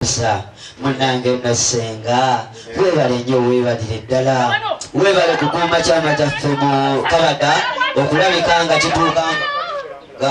kuweereza munange no senga webale nyo webalire ddala webale kukuuma kyama kyaffe mu kabada okulabika nga kituuka nga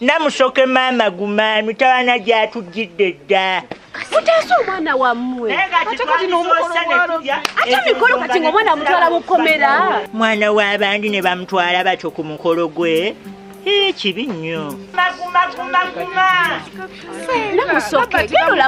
namusoke maama guma mitawana gyatujjidde dda mutaase omwana wammwe ate kati nomukoloate mikolo kati nga omwana amutwala mukomera mwana w'abandi ne bamutwala batyo ku mukolo gwe ekibi nnyo namusoke